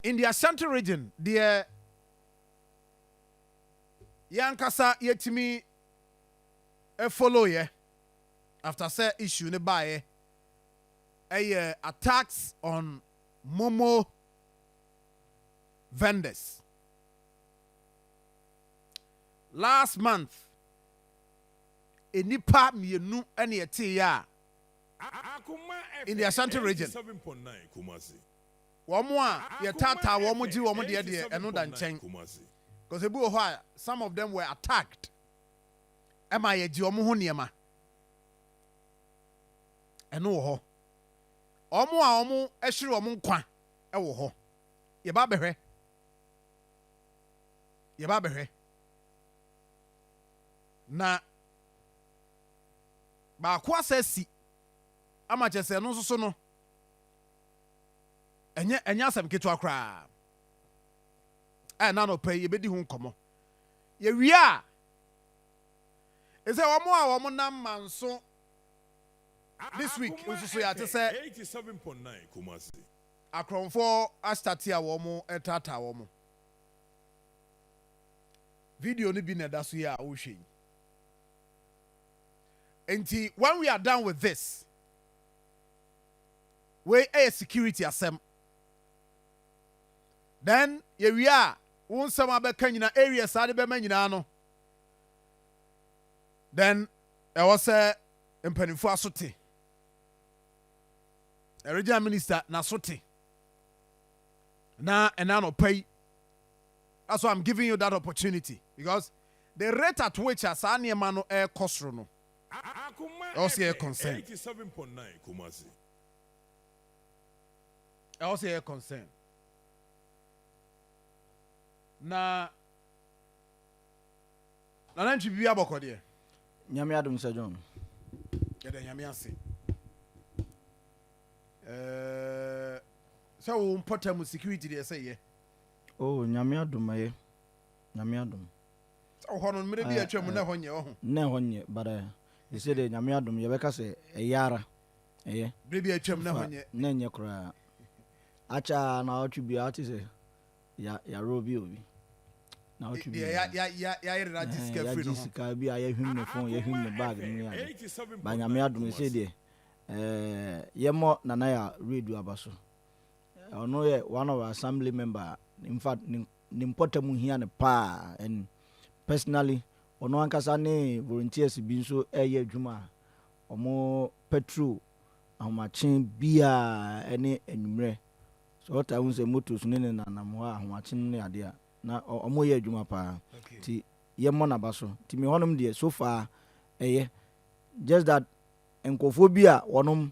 In the Ashanti region deɛ yɛn ankasa yɛtumi follow'eɛ after sɛ issue no baeɛ ɛyɛ attacks on momo vendors. Last month nnipa mmienu na ɛteeɛ a in the Ashanti region. Wɔn a yɛtaataa wɔn gye wɔn deɛ deɛ ɛno da nkyɛn cos ebi wɔ hɔ a some of them were attacked ɛma yɛgye wɔn ho nneɛma ɛno wɔ hɔ wɔn a wɔn ɛhyere wɔn nkwa ɛwɔ hɔ yɛba abɛhwɛ yɛba abɛhwɛ na baako asa si ama kyɛ sɛ ɛno nso so no ɛnyɛ ɛnyɛ asɛm ketewa koraa a ɛna anɔpa yi yɛbɛdi ho nkɔmmɔ yɛwie a ɛsɛ wɔn a wɔn nam manso this week nso so yɛate sɛ akorɔmfoɔ astate a wɔn ɛtaataa wɔn video no bi na ɛda so yi a wohwɛ yi nti when we are done with this wei yɛ security asɛm then yɛwie a wo nsɛm a bɛka nyina areas a de bɛma nyinaa no then ɛwɔ sɛ mpanimfoɔ aso te regional minister n'aso te na ɛna anɔpa yi that's why I'm giving you that opportunity because the rate at which a saa nneɛma no ɛrekɔ soro no ɛwɔ sɛ yɛyɛ concern. Ɛwɔ sɛ yɛyɛ concern. Na nana ntwi biribi abɔkɔ deɛ. Nyame adom sɛ John. Yɛda nyame ase. Eh, sɛ wo mpɔtam security deɛ sɛ yɛ. Oh, nyame adom ɛyɛ. Nyame adom. Ɔhɔ no mmerɛ bi a atwam no na ɛhɔ nyɛ ɔho. Na ɛhɔ nyɛ but eh sese deɛ Nyame adom yɛbɛka sɛ ɛyɛ ara ɛyɛ. Berɛ bi a atwam na ɛhɔ nyɛ. Na ɛnyɛ koraa akyɛ ara naawɔtwe bi a wote sɛ yɛarobi obi naawɔtwe bi a yɛayere no agye sika firi no ho. Yɛagye sika bi a yɛhwim ne phone yɛhwim ne bag no ne ade but Nyame adom sese deɛ eh yɛmmɔ Nana Yaw Radio aba so ɔno yɛ one of our assembly member in fact ne. ne mpɔtam hia no paa and personally ɔno ankasa ne volunteers bi nso reyɛ adwuma a ɔmo patrol ahomakye biaa ɛne anwummerɛ sɛ ɔtaa hu sɛ motos ne ne nanam hɔ a ahomakye no ne adeɛ a na ɔmo yɛ adwuma paa nti yɛ mmɔ naba so nti me hɔnom deɛ so far ɛyɛ just that nkurɔfoɔ bi a wɔnom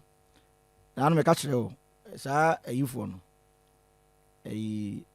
na ano meka kyerɛ o saa ayifoɔ no ɛyi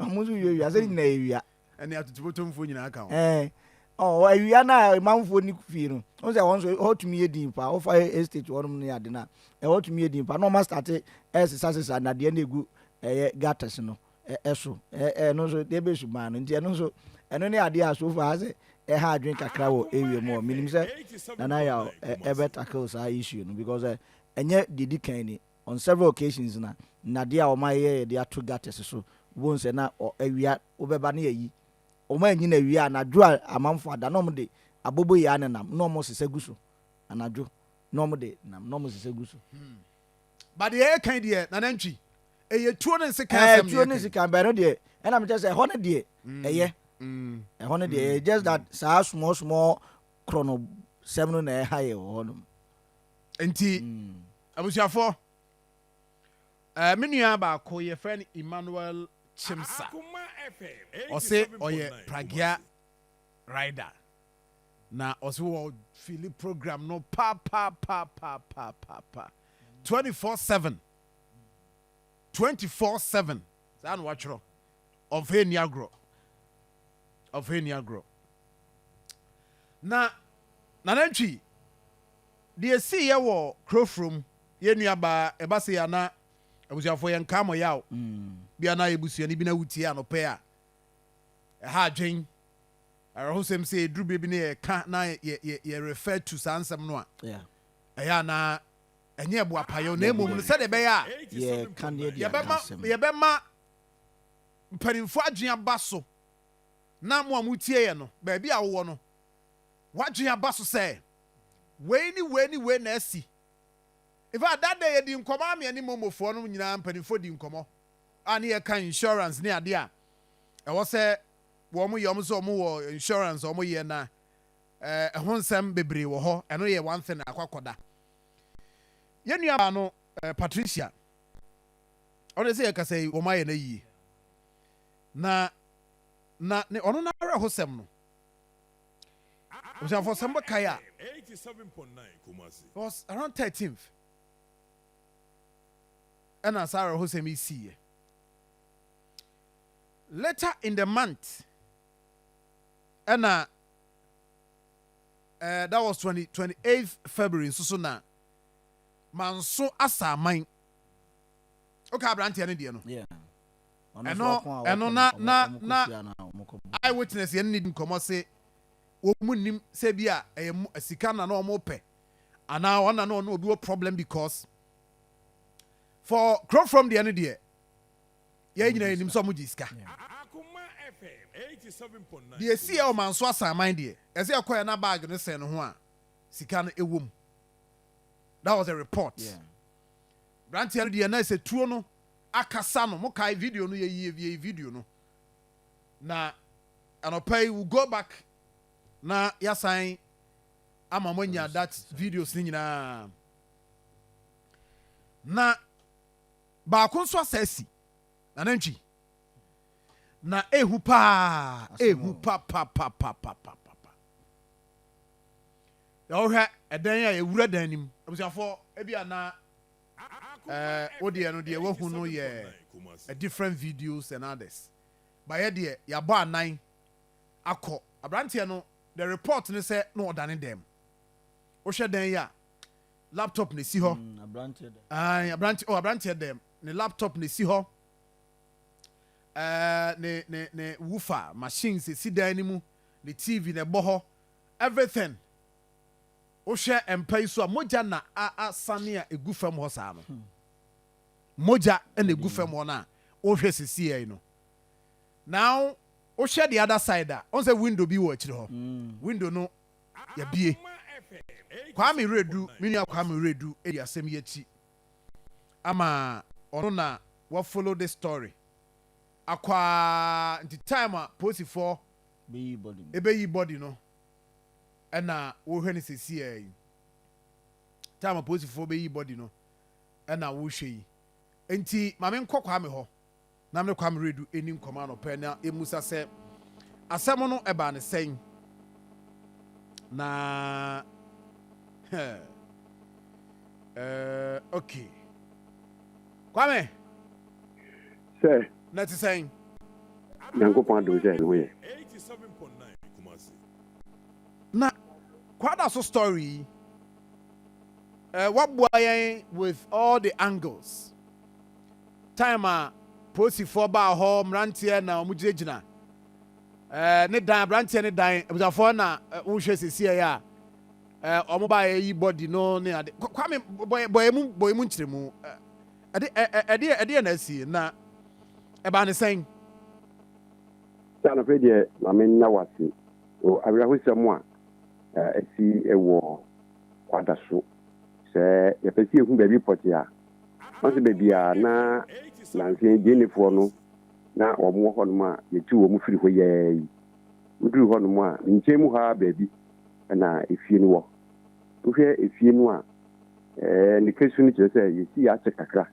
ɔmo nso wia wia sɛ nyina yɛ wia ɛne atutubotomfoɔ nyinaa ka ho ɛɛ ɔ awia no a manfoɔ ni fie no ɔn sɛ wɔn nso ɛhɔ tumi yɛ din paa wofa estate wɔnom ne ade no a ɛhɔ tumi yɛ din paa na ɔma starte ɛsesa sesa nadeɛ no ɛgu ɛyɛ gutters no ɛso ɛno nso deɛ bɛ sumaa no nti ɛno nso ɛno ne adeɛ a so far sɛ ɛha adwene kakra wɔ area mu hɔ menim sɛ nana yɛ ɛbɛ tackle saa issue no because ɛnyɛ deɛ di kan ni On several occasions na nnadeɛ a wɔn ayeyɛ yɛde ato gutters so, wobɛhu sɛ na ɔ, awia, wobɛba na yɛayi. Wɔn anyini awie a, anadwo a amanfoɔ ada na wɔde aboboyaa ne nam na wɔsesa gu so. Anadwo na wɔde nam na wɔsesa gu so. Hmm. Ba deɛ ɛka yi deɛ, na nantwi. Ɛyɛ tuo ne nsekan asɛm na ɛka yi. Tuo ne nsekan, bɛn no deɛ, ɛna mekyɛ sɛ ɛhɔ no deɛ, hmm. ɛyɛ. Hmm. Ɛhɔ no deɛ, ɛyɛ just that saa small small korɔ no sɛm no na ɛha yɛ wɔ hɔ nom. Nti, abusuafoɔ, ɛɛ me nua baako yɛfrɛ no Emmanuel Chimsa. Ɔse ɔyɛ Pragya rider. Na ɔse wɔ fili program no pa pa pa pa pa pa pa 24/7 24/7 saa na watwerɛ ɔmfa nni agorɔ. Ɔmfa nni agorɔ. Na Nana Antwi, deɛ ɛsiiɛ wɔ Kurofurom, yɛn nuabaa, ɛba sei a na abusuafoɔ yɛnkaa mo yaw. Mm. Bia na yɛ busuani bi na wotie anɔpɛ a, ɛha adwen. Awerɛhosɛm sɛ ɛduru berɛ bi na yɛka na yɛ refer to saa nsɛm no a, ɛyɛ a na ɛnyɛ boapayɔ na mmom no sɛdeɛ ɛbɛyɛ a yɛbɛma mpanimfoɔ adwene aba so na mo a motie yɛn no, baabi a wowɔ no, w'adwene aba so sɛ wei ne wei ne wei na asi. In fact, that day yɛdi nkɔmmɔ a me ne Momofoɔ no nyinaa mpanimfoɔ di nkɔmmɔ a ne yɛka insurance ne adeɛ a ɛwɔ sɛ wɔn yɛ wɔn sɛ wɔn wɔ insurance wɔn yɛ na eh, ɛho nsɛm bebree wɔ hɔ ɛno yɛ one thing akɔ akɔda yɛn nua baa no eh, Patricia ɔne sɛ yɛkasa yi wɔn ayɛ no ayie na na ne ɔno n'awerɛhosɛm no abusuafoɔ sɛ mobɛkae a was around 13th ɛna saa awerɛhosɛm yi siiɛ later in the month ɛna uh, that was 20, 28th february nso so na manso asaaman woka aberanteɛ no deɛ no ɛno ɛno na na na eye witness yɛn ne di nkɔmmɔ se wɔn nim sɛ bi a ɛyɛ sika na na wɔn pɛ anaa wɔn na na wɔn obi wɔ problem because for kuro from deɛ no deɛ yɛn nyinaa yɛn nim sɛ wɔn gye sika deɛ esi yɛ wɔn anso asan man deɛ ɛsɛ ɛkɔ yɛn na baag no sɛn no ho a sika no ɛwɔ mu. that was a report branteɛ no deɛ na ɛsɛ tuo no akasa no mo kae video no yɛyi yɛyi video no na anɔpa yi we go back na yɛasan ama mo anya that videos no nyinaa na baako nso asa asi nanantwi na ehu paa ehu pa pa pa pa pa pa pa Deɛ wohwɛ ɛdan a yɛwura dan no mu. Abusuafoɔ ebi a na ɛɛ wodeɛ no deɛ wahu no yɛ a different videos and others but yɛ deɛ yɛabɔ anan akɔ abranteɛ no the report ne sɛ na ɔdane dan mu wohwɛ dan yi a laptop na esi hɔ ɛɛ abrante oh abranteɛ dan mu ne laptop na esi hɔ ɛɛ ne ne ne wufa machines esi dan no mu ne tv na ɛbɔ hɔ Everything wohwɛ mpa yi so a mogya na asane a egu fam hɔ saa no mogya na egu fam hɔ no a wohwɛ sisi yɛ no now wohwɛ the other side a ɔn sɛ window bi wɔ akyiri hɔ mm. window no yɛbie Kwame Redu me nua Kwame Redu ɛdi asɛm yi akyi ama ɔno na wa follow this story akɔ a nti time a polisifoɔ beyi body no. Ebeyi body no ɛna wohwɛ no sesiaa yi. Time apolisifoɔ beyi body no ɛna wohwɛ yi. Nti ma me nkɔ Kwame hɔ na me ne Kwame Redu ɛni nkɔmɔ anɔpa yi na yɛmusa sɛ asɛm no ɛbaa ne sɛn na hɛɛ ɛɛ okay Kwame. sɛ. Na ɛte sɛn? Nyankopɔn adom sɛ ɛho yɛ. Na Kwadaso story yi, eh, waboa yɛn with all the angles. Time a polisifoɔ baa hɔ, mmeranteɛ na wɔn gyinagyina. Eh, ne dan, aberanteɛ ne dan, abusuafoɔ na eh, wohwɛ sisi ɛyɛ a, eh, wɔn baa yɛ yi body no ne ade. Kwame, bɔ yɛ mu, bɔ yɛ mu nkyerɛmu. Eh, Ɛde, ɛ, ɛ, ɛdeɛ, ɛdeɛ na asie, na ɛbaa ne sɛn? Sɛ anɔpɛ deɛ ma me nna wase o awerɛhosɛm a asi wɔ kwada so sɛ yɛpɛ sɛ yɛhu baabi pɔte a wɔn sɛ baabi a na nansa yi gyenefoɔ no na wɔn wɔ hɔnom a yɛtu wɔn firi hɔ yɛɛ yi meduru hɔnom a me nkyɛn mu ha baabi na efie no wɔ Wohwɛ efie no a, ne fasu no kyerɛ sɛ yɛsii akyɛ kakra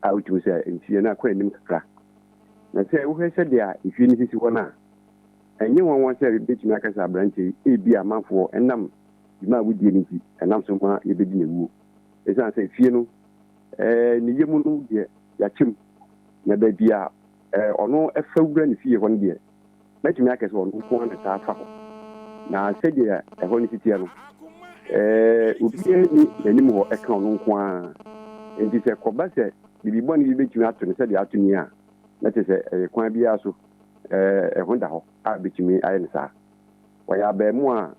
a wotumi sɛ nfie no akɔ anim kakra. Na sɛ wohwɛ sɛdeɛ efie no sisi hɔ no a, ɛnyɛ nwanwa sɛ yɛbɛtumi aka sɛ aberanteɛ yi, ebia amanfoɔ nam dwuma a wodie no nti, ɛnam so ma yɛbɛdi n'awuo. Ɛsiane sɛ efie no ne yam no deɛ, yɛakyɛ mu. Na baabi a ɔno fa wura ne fie hɔ no deɛ, Mɛtumi aka sɛ ɔno nko ara na ɛtaa fa hɔ. Na sɛdeɛ ɛhɔ no si teɛ no, eh, obiara nni n'anim hɔ ɛka ɔno nko ara. Enti sɛ ɛkɔba sɛ biribi bɔne bi bɛtumi ato no sɛdeɛ ato ni a, na kyerɛ sɛ ɛyɛ kwan biara so, eh, ɛho da hɔ a ɛbɛtumi ayɛ no saa. Ɔyɛ abarimaa a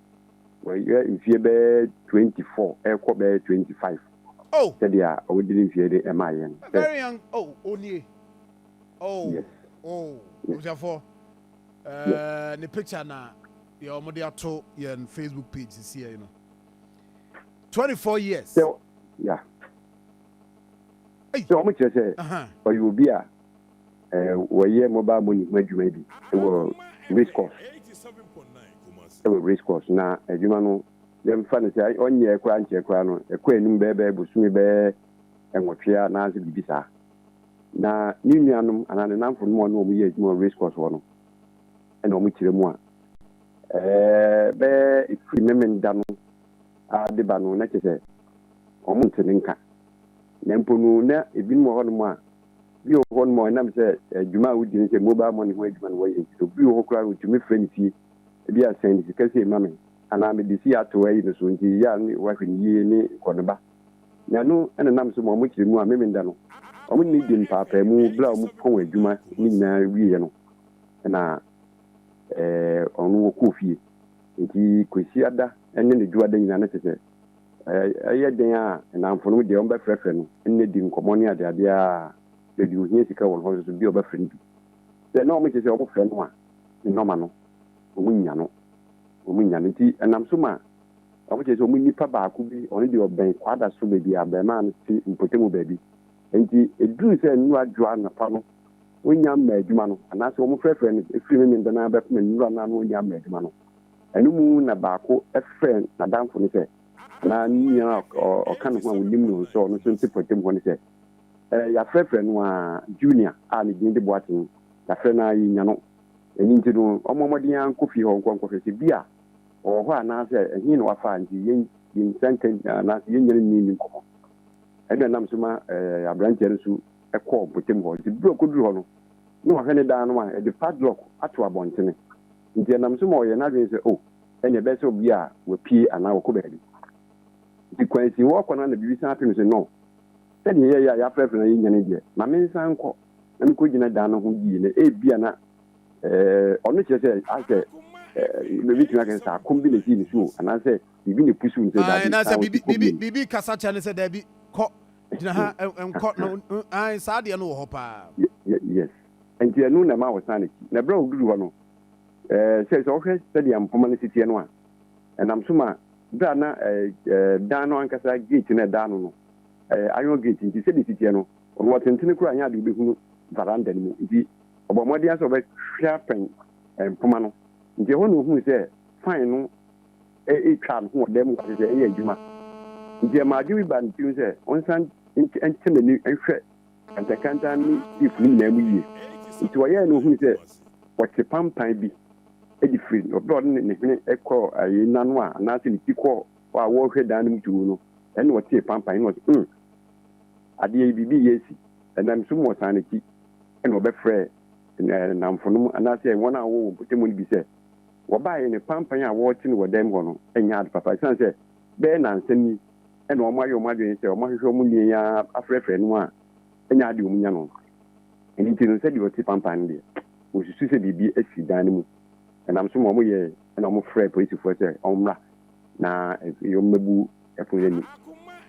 wayɛ mfeɛ bɛyɛ 24 ɛrekɔ bɛyɛ 25, sɛdeɛ a ɔde ne mfeɛ no maa yɛn sɛ. oh yes oh yes abusuafoɔ ɛɛ yes eh, ne picture na yɛ wɔn de ato yɛn facebook page sisi yɛ no twenty four years sɛ ya Ei. sɛ wɔn kyerɛ sɛ Aha. ɔyɛ obi a ɛɛ wɔyɛ mobile money ho adwuma bi wɔ race course ɛwɔ race course na adwuma no yɛmfa no sɛ ɔnyɛ koraa nkyɛ koraa no ɛkɔ anim bɛɛbɛɛ bosome bɛɛ nwɔtwe a naasɛ biribi saa Na ne nuanom anaa ne nnamfonom a ɔne wɔn yɛ adwuma wɔ race course hɔ no na wɔkyerɛ mu a, ɛɛ, bɛyɛ firi Memenda no ara de ba no, na kyerɛ sɛ wɔnte ne nka. Na mpo no, na ebinom wɔ hɔnom a, bi wɔ hɔnom a ɛnam sɛ adwuma a wodi no sɛ mobile money ho adwuma na wɔyɛ nti, obi wɔ hɔ koraa a otumi frɛ ne fie, ebi a sɛn sika sei ma me, anaa mede sei ato ayi no so nti yɛ a na wahwɛ no yie ne kɔ ne ba. Na ɛno na nam so ma wɔn kyerɛ mu a Memeneda no, wɔn ne di mpaapaamu bere a wɔpɔn wɔn adwuma no nyinaa wieɛ no na wɔn no wɔkɔ fie. Nti Kwasiada ne ne Dwoada nyinaa no kyerɛ sɛ ɛyɛ dɛn a nnamfo no deɛ wɔbɛfrɛfrɛ no ne di nkɔmmɔ ne adeadeɛ a baabi wɔhia sika wɔ no hɔ nso bi a wɔbɛfrɛ no bi. Sɛ na wɔkyerɛ sɛ wɔfrɛ no a ne nɔma no wɔnnya no, wɔnnya no. Nti ɛnam so ma Ɔno kyerɛ sɛ wɔn nipa baako bi, ɔno deɛ ɔbɛn Kwada so baabi a abarimaa no te mpɔtamu baabi. Enti ɛduruu sɛ nnuru adwo anɔpa no, wɔnnya mmaa adwuma no, anaasɛ wɔfrɛfrɛɛ no firi Memen dan ara bɛpem nnuru anan no ɔnnya mmaa adwuma no. Ɛno mu na baako frɛɛ n'adamfo no sɛ, anaa ne nua a ɔka ne ho a wɔnim no nso a ɔno nso te mpɔtamu hɔ no sɛ, Ɛɛ, yɛafrɛfrɛ no ara, Junior a ne din de Boateng, yɛafrɛ no ara, yɛnnya no. Ɛno nti no, ɔmmɔ mmɔden ara nkɔ fie hɔ nkɔhwɛ sɛ bi a ɔwɔ hɔ anaasɛ ɛhe na wafa a nti yɛn yɛn nsa nka nyinaa anaasɛ yɛn nyinaa nni nni nkɔmmɔ. Ɛna nam so ma ɛɛ aberanteɛ no nso kɔɔ mpɔtam hɔ. Nti bere a ɔkɔduru hɔ no, na ɔhwɛ ne dan no a, ɛde padlock ato abɔntene. Nti ɛnam so ma ɔyɛɛ n'adwene sɛ, oh, ɛnneɛ ɛbɛyɛ sɛ obi a wapue anaa ɔkɔ baabi. Nti kwan si hɔ ɔkɔ no a na biribi san ato no sɛ, no, sɛdeɛ yɛyɛ a yɛafrɛfrɛ na yɛnnya no deɛ, ma mensan nkɔ na mekɔgyina dan no ho yie na ebia na ɔno kyerɛ sɛ asɛ mɛbɛtumi akɛ sɛ akɔm bi na ɛsii ne so anaasɛ biribi na ɛpusu ne sɛ daabi anaasɛ biribi kasa kyɛ ne sɛ daabi kɔ gyina ha nkɔ no saa deɛ no wɔ hɔ paa yes nti ɛno na ɛma wɔsan n'akyi na ɛberɛ a ɔduru hɔ no sɛ sɛ wohwɛ sɛdeɛ mpoma no siteɛ no a ɛnam so ma berɛ a na dan no ankasa gate no ɛdaa no no iron gate nti sɛdeɛ siteɛ no ɔno ɔtentene koraa nyɛ adeɛ wobɛhunu varanda no mu nti Ɔbɔɔ mmɔden ara sɛ ɔbɛhwɛ afɛn mpoma no, enti ɛhɔ na ɔhuu sɛ fan no retwa ne ho wɔ dan mu hɔ te sɛ ɛreyɛ adwuma. Enti ɛmaa adwene bi baa ne tirim sɛ ɔnsan nkyɛ n'ani nhwɛ kantankantan ne teepu no nyinaa mu yie. Enti ɔyɛe na ɔhuu sɛ wɔte pampan bi de firi bere a ɔde ne hwene kɔɔ ayi n'ano a anaasɛ ne ti kɔɔ hɔ a wɔrehwɛ dan no mu too no, ɛnna ɔtee pampan no na ɔse, Humm! Adeɛ yi, biribi reyɛ asi. Ɛnam so ma ɔsan n'akyi. na ɔbɛfrɛɛ nnamfonom anaasɛ wɔn a wɔwɔ wɔn mpɔtam no bi sɛ wɔbaeɛ no, panpan a wɔrete no wɔ dan mu hɔ no nyɛ ade papa ɛsiane sɛ bɛyɛ nnansa ni na wɔayɛ wɔn adwene sɛ wɔahwehwɛ wɔn nua yi ara afrɛfrɛ no a ɛnyɛ ade a wɔnya no. Ɛno nti no, sɛdeɛ wɔte panpan no deɛ, wɔsusu sɛ biribi asi dan no mu. Ɛnam so ma wɔyɛɛ na wɔfrɛɛ polisifoɔ sɛ wɔmmra na wɔmmɛbu ɛpono anim.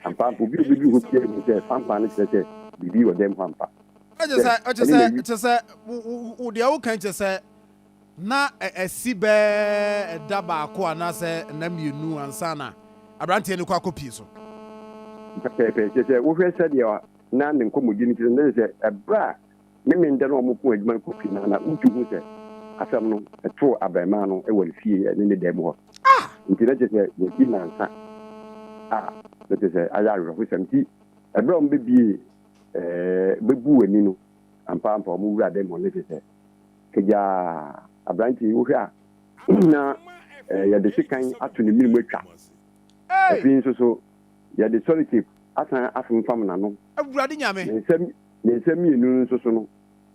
Ampa, obi a obedu hɔ biara nim sɛ fanfan no kyerɛ sɛ biribi wɔ dan mu ampa. Kyɛ sɛ, kyɛ sɛ, kyɛ sɛ, wo deɛ woka yi kyɛ sɛ na ɛsi bɛɛ ɛda baako anaasɛ nna mmienu ansa na aberanteɛ no kɔ akɔpie so. Pɛpɛɛpɛ, kyɛ sɛ wohwɛ sɛdeɛ na ne nkɔmmɔdie no kyerɛ no, na kyɛ sɛ ɛberɛ a ne me ndɛ no a ɔmo ko edwuma no kɔ pii no a, na mutu hu sɛ asɛm no too abarimaa no wɔ ne fie ne ne dan mu hɔ. Ntsi na kyerɛ sɛ yɛasi nnansa a na kyerɛ sɛ ayɛ awerɛhosɛm. Ntsi ber a ɔmo bebiee ɛɛɛ bebuu ani no, ampaampa ɔmo wura dan mu hɔ no na kyerɛ sɛ kagyaa aberantsɛ yi wohwɛ a na yɛde sekan ato ne menmu etwa. Afei so so yɛde sɔretape asan afemfam n'ano. Awurade Nyame! Ne nsam. Ne nsa mmienu no nso so no,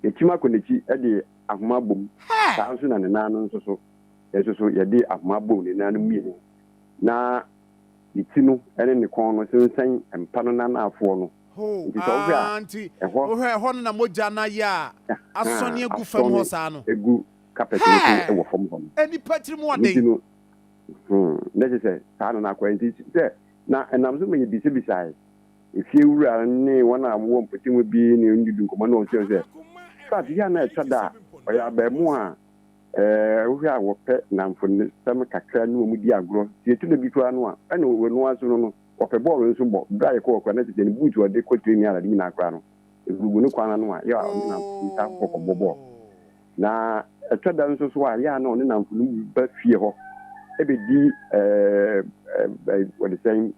yɛakyim akɔ n'akyi de ahoma abɔ mu. Saa ara nso na ne nan no nso so, yɛn nso so yɛde ahoma abɔ ne nan no mmienu, na ne ti no ne ne kɔn no sensɛn mpa no n'anaafoɔ no. Nti sɛ wohwɛ a, ɛhɔ. Wohwɛ ɛhɔ no na mogya no ayɛ a asɔne agu fam hɔ saa no. Asɔne agu kapɛt no so wɔ fam hɔ no. Hɛɛ! Nnipa tirim wɔ den. Nti no, na kyerɛ sɛ saa na na akɔ. Nti sɛ, na ɛnam so ma yɛbisabisaeɛ. Efie wura ne wɔn a wɔwɔ mpɔtam hɔ bi ne no didi nkɔmmɔ na wɔkyerɛ no sɛ, Sat yi a na ɛtɔ da a ɔyɛ abarimaa a wohwɛ a ɔpɛ nnamfonosɛm kakra ne wɔn di agorɔ, sɛ etu da bi koraa no a, ɛne ɔno ara nso no no, ɔpɛ bɔɔlo nso bɔ. Bere a yɛkɔ hɔ koraa no, na kyerɛ sɛ ne buutu a ɔde kɔ training ara ade nyinaa koraa no, egugu ne kɔn ano a yɛ a ɔne nnamfo no taa kɔ hɔ kɔbɔ bɔɔlo. Na ɛtɔ da nso so a, yɛ a na ɔne nnamfo no ba fie hɔ bedi wɔde sɛn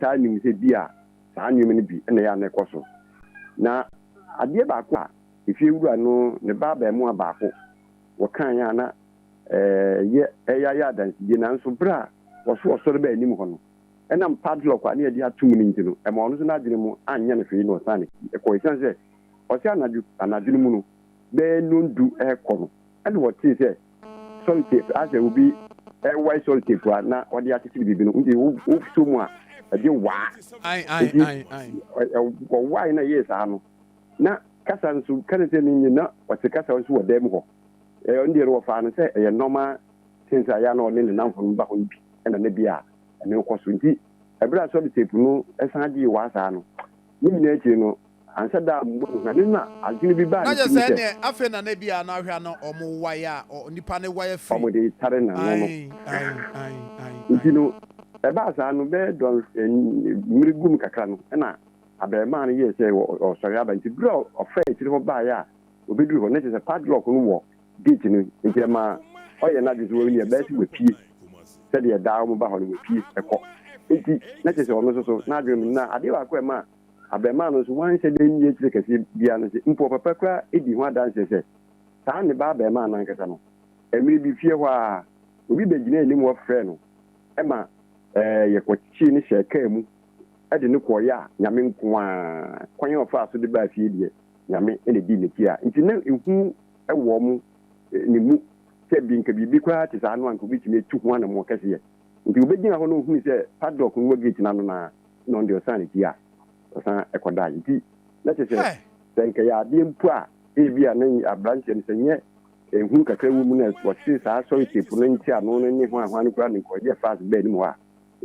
taa nim sɛ ebia saa nneɛma no bi na ɛyɛ a na ɛkɔ so. Na adeɛ baako a efiewura no ne ba abaamua baako wɔkaeɛ a na ɛyɛ ɛyɛ ayɛ adansedie nanso berɛ a wɔso ɔsɔre baa anim hɔ no, ɛnam padlock a na wɔde ato mu no nti no, ɛmaa ɔno nso n'adwene mu anyɛ no hwee na ɔsan kɔe. Ɛsiane sɛ ɔse anadwo anadwo no mu no bɛyɛ nnɔndu rekɔ no, Ɛnna wɔtee sɛ sɔltefua, asɛ obi rewae sɔltefua na ɔde akyekyere biribi no, nti wosɔ mu a ɛde waa. Nti wɔwae na ɛyɛɛ saa no, na kasa nso, ka ne sɛ ne nye, na ɔte kasa nso wɔ dan mu hɔ. Ɛno deɛ no wɔfaa no sɛ ɛyɛ nɔɔma tins a ɛyɛ a na ɔne ne nnamfonom ba hɔ no bi, ɛnna na bi a ɛno rekɔ so. Nti bere a sɔltefu no san gyee waa saa no, Ne nyinaa akyiri no, anhyɛ da ammɔ no hwa. Ne na adwene bi baa Na ne kyɛ tirim sɛ sɛ. ɛneɛ afei na na ebi a na ahwɛ a na ɔmo wae a ɔ nipa no wae afiri. Ɔmo de retare n'ano no. Aii aii aii aii Nti aii. no, ɛbaa saa no, bɛyɛ dɔn mmere gu mu kakra no, ɛna abarimaa no yɛɛ sɛ ɔ ɔ ɔresɔre aba. Nti bere a ɔ ɔfaa akyire hɔ baeɛ a obeduru hɔ, na kyerɛ sɛ padlock no wɔ gate no nti ɛma ɔyɛ n'adwene sɛ wɔn ɛbɛyɛ sɛ wapue sɛdeɛ daa wɔn ba hɔ no wapue ɛkɔ nti na kyerɛ sɛ ɔno nso so n'adwene mu na adeɛ baako ɛma abɛɛmaa no nso wanhyɛ da nni akyire kɛseɛ biara no sɛ mpo ɔpapa kura edi ho adanseɛ sɛ saa ne ba abɛɛmaa no ankasa no mmerɛ bi fie hɔ a obi bɛgyina anim hɔ frɛ no ɛma ɛɛ yɛkɔkyee no hyɛɛ kaa mu ɛde no kɔɔyɛ a nyame nko a kwan a ɔfaa so de baa fie deɛ nyame ɛna di n'akyi a nti na ehu wɔ wɔn ne mu sɛ ɛbi nka biribi koraa te saa no anka obetumi atu ho anamɔ kɛseɛ. Nti obegyina hɔ na ohunu sɛ padlock no wɔ gate no ano no ara na ɔno deɛ ɔsan ne ti a ɔsan kɔ dae. Nti na kyerɛ sɛ sɛ anka ɛyɛ adeɛ mpo a ebi a na abranteɛ no sɛ nyɛ ehunu kakra wɔ mu na ɔte saa sɔre tape no nte ano no ne hwan hwan no koraa na nka ɔyɛ fast bɛɛ anim hɔ a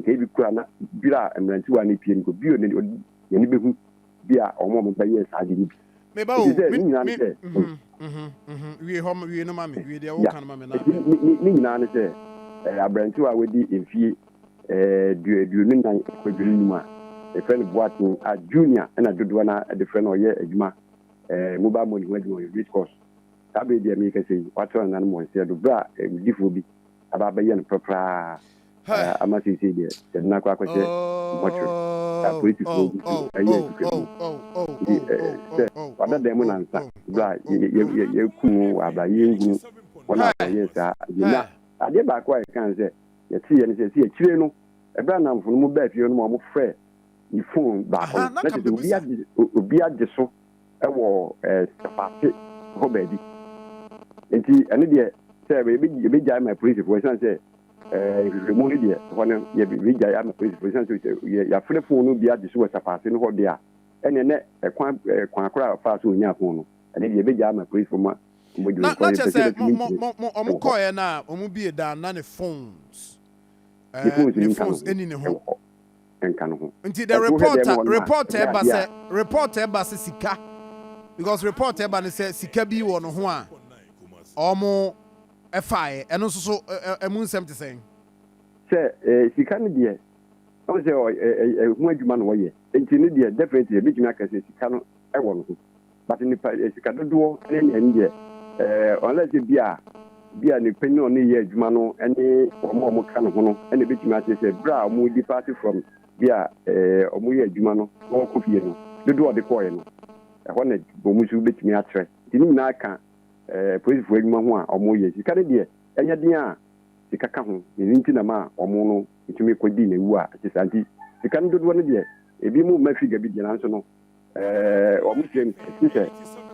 nka ebi koraa na dwira mmerantewa no pie no nka obi a n'ani behu bi a wɔn a wɔbɛyɛɛ saa ade no bi. Me ba o, Efisɛ me, ne nyinaa ne me, sɛ, mhm, mhm, mhm, wie hɔ, wie no ma me, wie deɛ ya, woka no ma me na enti me. ne, ne, ne nyinaa ne sɛ, eh, aberantewa a wadi mfie eh, du, aduonu nnan kɔ aduonu num a yɛfrɛ no Boateng a Junior na dodoɔ no ara de frɛ no, ɔyɛ adwuma eh, mobile money ho adwuma, ɔyɛ race course. Saa bere yi deɛ merekasa yi, watena nananom wɔ nseɛ do, bere a eh, wudifoɔ bi aba abɛyɛ no prapraa Ɛ, ama seesei deɛ yɛde no akɔ akɔhyɛ mɔtwere a polisifoɔ gu so reyɛ asukam mu Nti ɛ, sɛ wada dan mu nansa berɛ a yɛ, yɛ, yɛ, yɛakum wo wɔ abra Yɛnhunu wɔn a wɔyɛɛ saa bio Na adeɛ baako a yɛka ne sɛ yɛteeɛ ne sɛ, ɛsɛ akyire no Ɛberɛ a nnamfo no mu baa fie hɔ no ma wɔfrɛɛ me fon baako no, na kyerɛ sɛ obiara gye, obiara gye so wɔ Sefate hɔ baabi. Nti ɛno deɛ sɛ yɛbɛgyae ma apolisifoɔ ɛsiane sɛ nhwehwɛmu no deɛ hɔ no yɛbɛgyae ama apolisifoɔ ɛsiane sɛ sɛ yɛafrɛ fon no bi agye so wɔ Sefate no hɔ deɛ a ɛneɛ nɛ ɛkwan kwan korɔ a ɔfaa so ɔnyaa fon no ɛno deɛ yɛbɛgyae ama apolisifoɔ ma wɔmɔdi no kɔ yɛpɛ sɛ bɛtumi ntie wɔ hɔ. Na ɔmo bie da na ne phones ne phones ɛni ne ho. nka no ho. Nti the report a report a ɛba sɛ report a ɛba sɛ sika because report a ɛba ne sɛ sika bi wɔ no ho a ɔmo ɛfaeɛ ɛno nso so ɛmu nsɛm te sɛn. Sɛ sika no deɛ ɔmo sɛ ɛho adwuma na ɔyɛ nti no deɛ definitely ebitumi aka sɛ sika no ɛwɔ no ho. but nipa eh, sika dodoɔ ne nea ɛne deɛ eh, unless sɛ bi a bi a nipa ne ɔne yɛ adwuma no ne wɔn a wɔka ne ho no ɛna ebetumi ate sɛ bere a wɔn depart from bi a eh, wɔn yɛ adwuma no na wɔkɔ fie no dodoɔ a ɔde kɔɔɛ no ɛhɔ na wɔn nso betumi akyerɛ nti ne nyinaa ka eh, polisifo adwuma ho a wɔn yɛ sika ne deɛ ɛnyɛ den a sika ka ho ne nti na ma wɔn no etumi kɔ di na ewu a ɛte saa nti sika no dodoɔ ne deɛ ebi mu mma figa bi deɛ nanso no Wɔn tirim su sɛ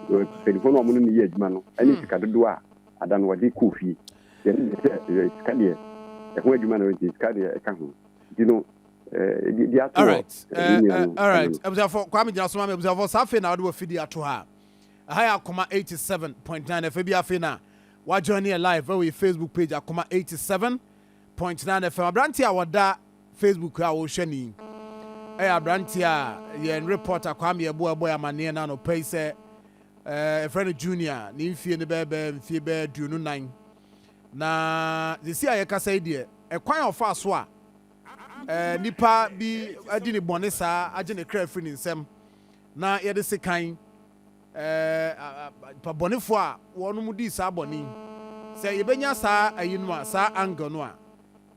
mpanyinfoɔ no a wɔn ne no yɛ adwuma no ne sika dodoɔ a ada no wɔde kɔɔ fie. Yɛn ne deɛ sɛ sika deɛ ɛho adwuma no nti sika deɛ ɛka ho nti no di ato wɔ ne nua no. Alright, abusuafoɔ Kwame gyina so ma me abusuafoɔ saa afei na wɔde wɔ fidie ato ha. Ɛha yɛ akoma 87.9 ɛfɛ bi afei na wajoin yɛ live ɛwɔ yɛ Facebook page akoma 87. Point no ara fam. Aberanteɛ a ɔda Facebook a wohwɛ no yi yɛ aberanteɛ a yɛn reporter Kwame Yeboah bɔe amanneɛ no anɔpa yi sɛ yɛfrɛ no Junior. Ne mfie no bɛyɛ bɛyɛ mfie bɛyɛ aduonu nnan. Na sisi a yɛkasa yi deɛ, ɛkwan a ɔfaa so a nipa bi adi ne bɔne saa agye ne kra afiri ne nsam na yɛde sekan Nnipabɔnefo a wɔnom dii saa bɔne yi, sɛ yɛbɛnya saa ayi no a, saa angle no a,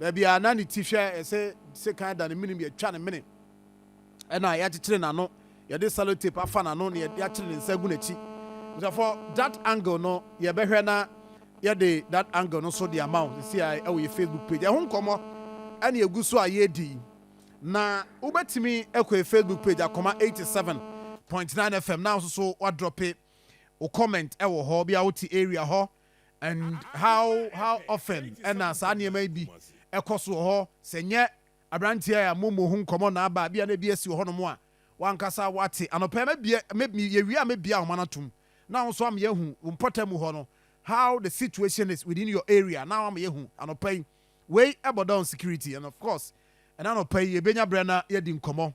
baabi a na ne ti hwɛ a yɛsɛ sɛ kan da ne menem yɛtwa ne mene ɛna yɛakyekyere n'ano yɛde sellotape afa n'ano na yɛakyere ne nsa agu n'akyi nso for that angle no yɛbɛhwɛ na yɛde that angle no so de ama wo sisi a ɛwɔ yɛ Facebook page ɛho nkɔmmɔ ɛna egu so a yɛredi Na wobɛtumi akɔ yɛ Facebook page Akoma eighty seven point nine FM na wososo woadrɔpe wo comment wɔ hɔ bia wote area hɔ and how how often ɛna saa nneɛma yi bi ɛkɔ so wɔ hɔ sɛ nyɛ abranteɛ a mo mmɔ ho nkɔmɔ na aba bia na ebi asi wɔ hɔ nom a wankasa wate anɔpɛ mɛbie mɛ yɛwie a mɛbie ahoma no atom na wo nso ama yɛahu wo mpɔtam hɔ no how the situation is within your area na ama yɛahu anɔpɛ yi Wei ɛbɔ down security and of course ɛna anɔpa yi yɛbɛnya berɛ na yɛadi nkɔmmɔ